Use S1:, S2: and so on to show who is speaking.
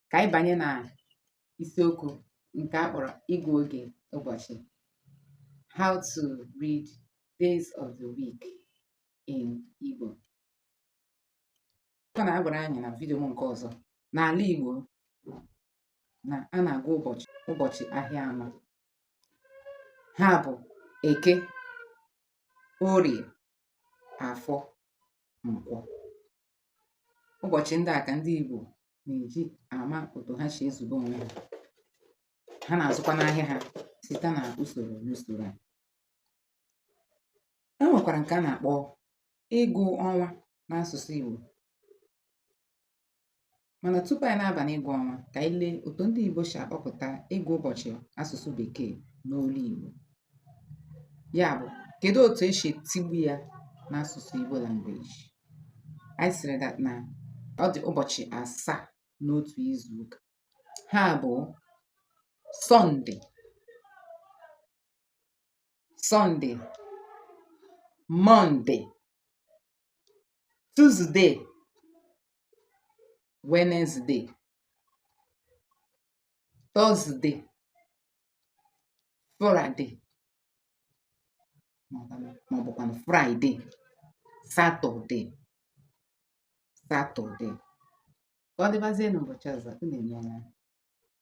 S1: ka anyị banye na isiokwu nke a kpọrọ ịgụ oge ụbọchị how to read days of the week in Igbo a na-agwara anyị na vidiyo m nke ọzọ n'ala Igbo na a na-agụ ụbọchị ahịa anọ ha bụ eke orie afọ nkwọ ụbọchị ndị a ka ndị Igbo na-eji ama otu ha si ezube onwe ha ha na-azụkwa n'ahịa ha site na usoro n'usoro a e nwekwara nke a na-akpọ ịgụ ọnwa n'asụsụ Igbo Mana tupu anyị na-aba n'ịgụ ọnwa, ka anyị lee otu ndị Igbo si akpọpụta ịgụ ụbọchị asụsụ Bekee n'olu Igbo. Ya bụ, kedu otu e si etigbu ya n'asụsụ Igbo language? Anyị sịrị that na ọ dị ụbọchị asaa n'otu izu ụka. Ha bụ Sọnde, Sọnde, Mọnde, Tuzde, Wenezde, Tọzde, Fụraịde maọbụkwanụ Fraịde, Satọde, Satọde. Ka ọ dịbazie n'ụbọchị ọzọ, unu emeela.